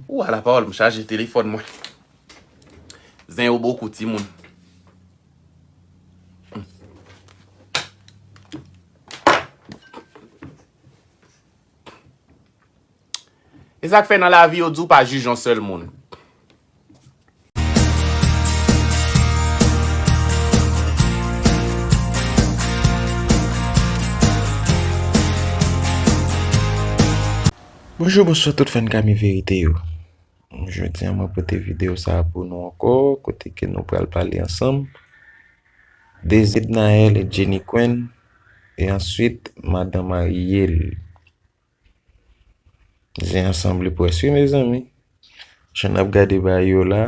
Ou ala pawòl m chaje telefòn mwen. Zen yo bokou timoun. E sak fè nan lavi yo di w pa jij yon sèl moun. Bonjou bonswa tout fèn kami verite yo Jodi an mwen pote videyo sa pou nou ankò kote ke nou pral pale ansanm de Zidnaelle et Djeniquène e answit madan Marielle. Zen an sanble pwès wi mezanmi. Jan nap gade bay yo la,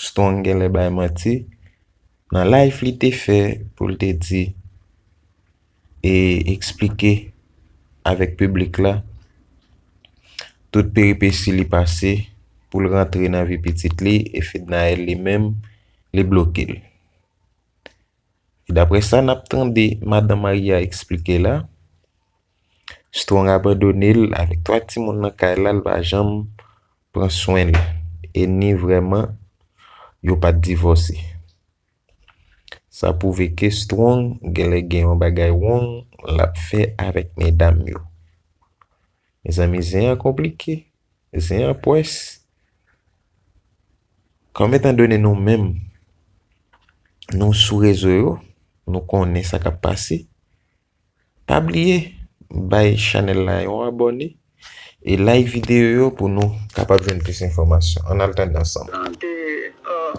Strong genlè bay manti. Nan live li te fè pou l te di e eksplike avèk piblik la tout peripesi li pase pou l rantre nan vi pitit li e Fednaelle li menm li bloke l. Daprè sa nap tande madan Maria eksplike la. Strong abandone l avèk 3 timoun nan kay la l pa janm pran swen l e ni vrèman yo pat divòse. Sa pwouve ke Strong genlè gen yon bagay wrong lap fè avèk medam yo. Mezanmi zen an konplike, zen an pwès. Kòm etan done nou menm nou sou rezo yo nou konnen sa kap pase. Pa bliye bay chanèl la yon abòne e like videyo yo pou nou kapab jwenn plis enfòmasyon. Ann al tande ansanm. Lan de uh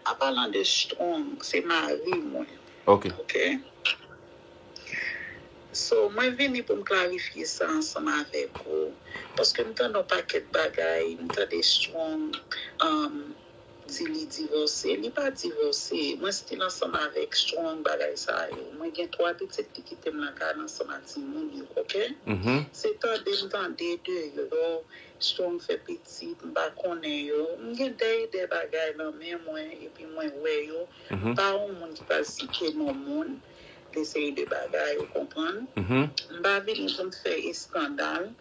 a pa lan de strong se mari mwen ok so mwen vini poum klarifye sa ansanm avèk ou paske m tande yon pakèt bagay m tande strong uh. Di li divose li pa divose mwen stil ansanm avek strong bagay sa yo mwen gen 3 pitit li kitem lakay la ansanm a timoun yo ok se tandem tande de yo strong fè pitit m pa konnen yo m gen dèy dè bagay lan men mwen epi mwen wè yo m pa on moun ki pral site non moun de seri de bagay ou konprann m pa vini poum fè eskandal.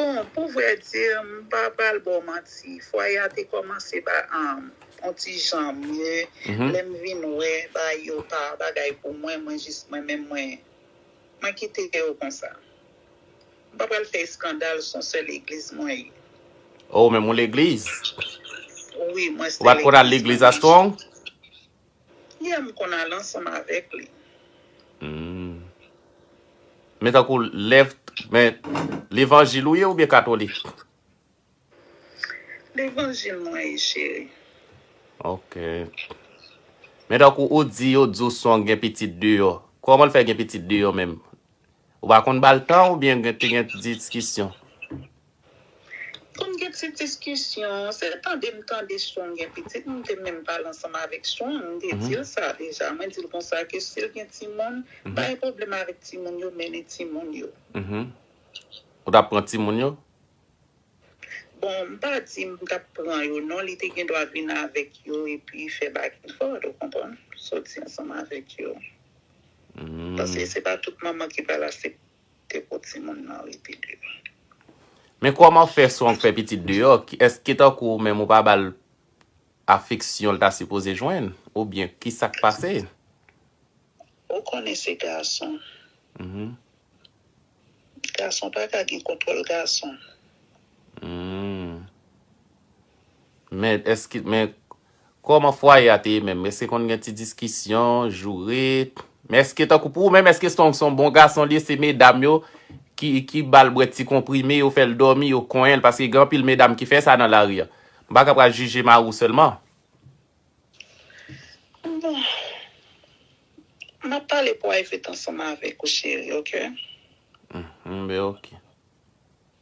Bon, pou vrè di, m pa pral ba w manti, fwaye a te kòmanse ba on ti jan mye, lè m vin wè bagay yo pa bagay pou mwen, mwen jis mwen menm mwen kite yo konsa. M pa pral fè eskandal, s on sèl legliz mwen ye. O, menm on legliz? Wi, mwen sèl legliz mwen. Ou pa t konn al legliz a Strong? Yè m konn al ansanm avèk li. Humm. Men tankou left men levanjil ou ye oubyen katolik? Levanjil mwen ye cheri. Ok. Men tankou ou di yo di w son gen pitit deyò. Kòman l fè gen pitit deyò menm? Ou pa konn ba l tan oubyen te gen diskisyon? Pou n gen ti diskisyon, se tande m tande Strong gen pitit, m te menm pale ansanm avèk Strong, m te di l sa deja, mwen di l konsa ke si l gen timoun, pa gen pwoblèm avèk timoun yo, mennen timoun yo. Ou t ap pran timoun yo? Bon, m pa di m t ap pran yo non, li te gen dwa vin avèk yo epi fè back and forth, ou konprann, soti ansanm avèk yo. Paske se pa tout manman ki pral asepte. te pot timoun nan rete deyo. Men kòman fè son fè pitit deyò èske tankou ou menm ou pa bal afeksyon l ta sipoze jwenn oubyen kisak pase. Ou konnen se gason. Gason pa ka gen kontwòl gason. Humm men èske men Kòman fwaye a te ye menm? Èske konn gen ti diskisyon, joure? Men èske tankou pou ou menm èske Strong son bon gason li ye se medam yo ki ki bal bwè ti konprime yo fèl dòmi yo konyenl paske gen anpil medam ki fè sa nan lari an m paka pral jije mariw sèlman. Bon Map pale private ansanm avèk ou cheri ok. Mph ok.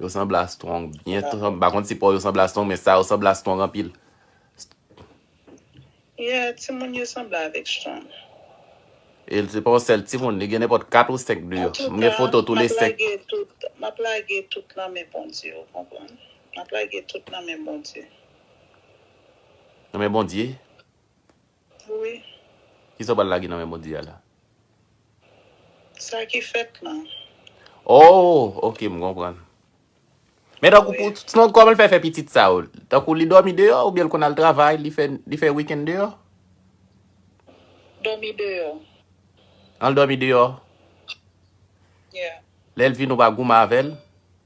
Yo sanble a strong byen tou m pa konn si paw yo sanble a strong men sa yo sanble a strong anpil. Yeah timoun yo sanble avèk strong. E se pa yon sèl timoun li gen nenpòt 4 ou 5 de yo m gen foto tou le 5. Antouka map lage tout map lage tout nan men Bondye ou konprann map lage tout nan men Bondye. Nan men Bondye? Wi. Kisa w pral lage nan men Bondye a la? Sa ki fèt lan. Oh ok m konprann. Men tankou pou Snow kòman l fè fè pitit sa yo? Tankou li dòmi deyò oubyen l konn al travay li fè li fè weekend deyò? Dòmi deyò. An l dòmi deyò? Yeah. Lè l vini ou pa goumen avè l?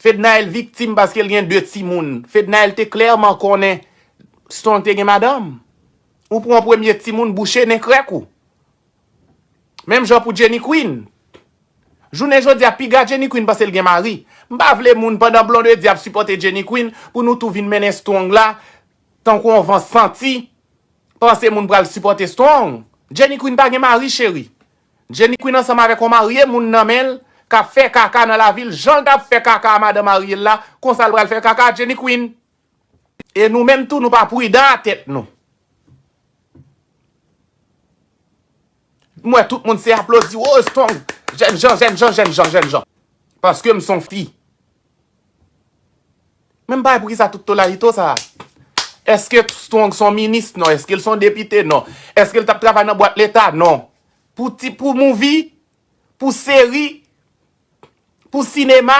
Fednaelle viktim paske l gen 2 timoun. Fednaelle te klèman konnen Strong te gen madanm. Ou pran premye timoun bouche nen krèk ou. Menm jan pou Jenny Queen. Jounen jodi a piga Jenny Queen pase l gen mari. M pa vle moun pandan Blondedy ap sipòte Jenny Queen pou nou tou vin mennen Strong la tankou yon van santi panse moun pral sipòte Strong. Jenny Queen pa gen mari cheri. Jenny Queen ansanm avèk yon marye moun nan men l k ap fè kaka nan lavi l jan l t ap fè kaka a madan marye l la konsa l pral fè kaka a Jenny Queen e nou menm tou nou pa pridan a tèt nou m wè tout moun se aplodi woo strong jènjan jènjan jènjan jènjan paske m s on fi. Men m pa wè poukisa tout tolayito sa a. Eske Strong son minis? Non. Eske l son depite? Non. Eske l t ap travay nan bwat leta? Non. Pou ti, pou mouvi, pou seri, pou sinema.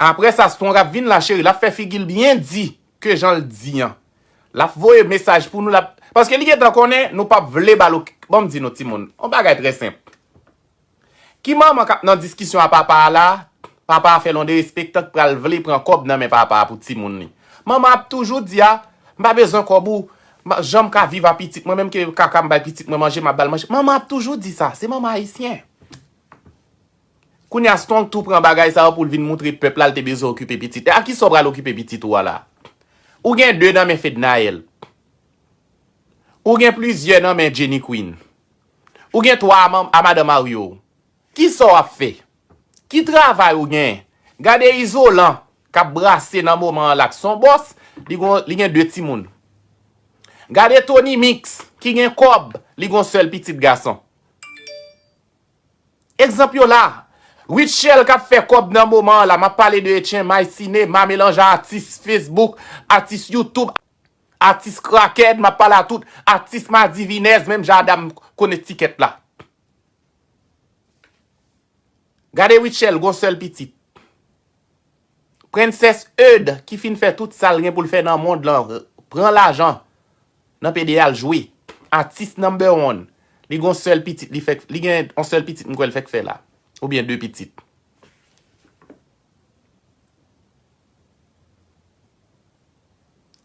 Apre sa Strong ap vin la cheri, l ap fè figi l byen di ke jan l di an. L ap voye mesaj pou nou, l ap, paske li gen tan konnen nou p ap vle ba l okenn, bon m di nou timoun, yon bagay trè senp. Ki manman kap nan diskisyon a papa a la, papa a fè lon derespektan k pral vle pran kòb nan men papa a pou timoun li. Manman ap toujou di a, m pa bezwen kòb ou, jan m ka viv a pitit mwen, menm ke kaka m bay pitit mwen manje m ap ba l manje. Manman ap toujou di sa, se manman ayisyen. Kounya Strong tou pran bagay sa yo pou l vin moutre pèp la l te bezwen okipe pitit li. A kisa w pral okipe pitit ou a la? Ou gen 2 nan men Fednaelle. Ou gen plizyè nan men Jenny Queen. Ou gen 3 manm a madan marye w. Kisa w ap fè? Ki travay ou gen? Gade Izolan k ap brase nan moman an la k son bòs, li gon li gen 2 timoun. Gade Tonymix ki gen kòb, li gon sèl pitit gason. Egzanp yo la. Rutshelle k ap fè kòb nan moman an la, m ap pale de Etchen, Maycine, Mamelange atis Facebook, atis YouTube. Atis kraken map pale a tout atis madivinèz menm jan a dam kone tikèt la. Gade Rutshelle gon sèl pitit. Princess Eude ki fin fè tout sal gen poul fè nan mond lan pran lajan nan pede al jwe. Atis number one. Li gon sèl pitit li fèk li gen yon sèl pitit m kwè l fèk fè la. Oubyen 2 pitit.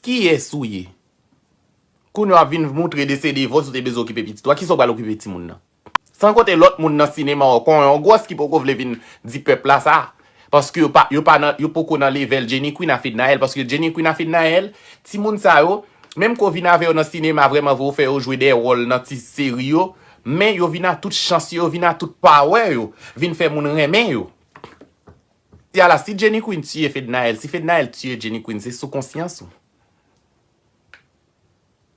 Kiyes ou ye? Kounye wap vin moutre de se de vòs ou te bezwen okipe pitit ou a, kisa ou pral okipe timoun nan? San konte lòt moun nan sinema an, kon yon gwòs ki poko vle vin di pèp la sa. Paske yo pa, yo pa nan, yo poko nan levèl Jenny Queen a Fednaelle. Paske Jenny Queen a Fednaelle, timoun sa yo, menm ke w vin avè yo nan sinema vrèman vre ou fè yo jwe de wòl nan ti seri yo, men yo vin a tout chans yo, yo vin a tout power yo, vin fè moun renmen yo. Ti ala si Jenny Queen tiye Fednaelle si Fednaelle tiye Jenny Queen se sou konsyans ou.